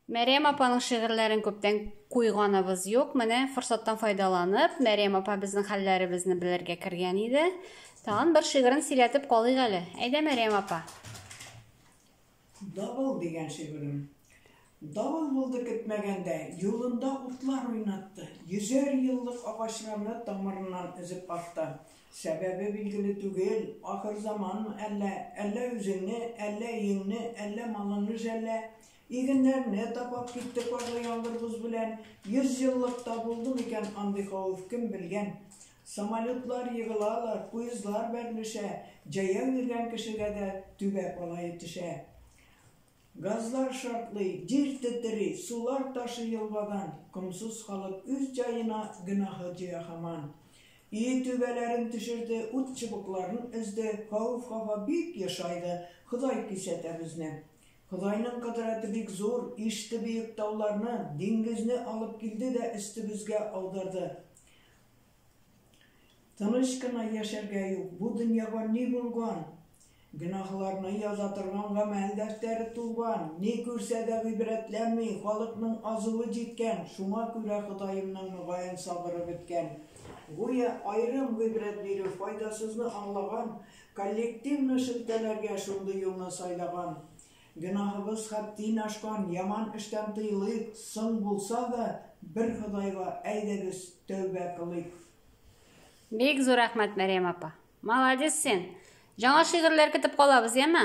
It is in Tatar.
Мәрьям апаның шигырьләрен күптән куйганыбыз юк. Менә форсаттан файдаланып, Мәрьям апа безнең хәлләребезне белергә кергән иде. Тагын бер шигырен сөйләтеп калыйк әле. Әйдә, Мәрьям апа. Давыл дигән шигырем. Давыл булды көтмәгәндә, юлында утлар уйнатты, йөзәр еллык агачларны тамырыннан өзеп атты. Сәбәбе билгеле түгел, ахырзаманмы әллә, әллә үзеңне, әллә өеңне, әллә малыңны жәллә. Игеннәрне тапап китте карлы яңгыр-боз белән. Йөз еллыкта булдымы икән андый хавыф, кем белгән. Самолетлар егылалар, поездлар бәрелешә, җәяү йөргән кешегә дә түбә калае төшә. Газлар шартлый, җир тетери, сулар ташый елгадан, Комсыз халык үз җаена, гөнаһы җыя һаман. Өе түбәләрен төшерде, ут чыбыкларын өзде, Хәвеф-хафа бик ешайды, Ходай кисәтә безне. Ходайның кодрәте бик зур, иште бөек тауларны, Диңгезне алып килде дә өстебезгә аударды. Тыныч кына яшәргә юк, бу дөньяга ни булган? Гөнаһларны яза торган гамәл дәфтәре тулган, ни күрсә дә гыйбрәтләнми, халыкның азуы җиткән, шуңа күрә Ходаемның мөгаен сабыры беткән. Гүя аерым гыйбрәт бирү файдасызны аңлаган, коллективны шелтәләргә шундый юлны сайлаган. Гөнаһыбыз хәттин ашкан, яман эштән тыелыйк, соң булса да, бер Ходайга, әйдәгез, тәүбә кылыйк. Бик зур рәхмәт, Мәрьям апа! Маладис син! Җаңа шигырьләр көтеп калабыз, яме?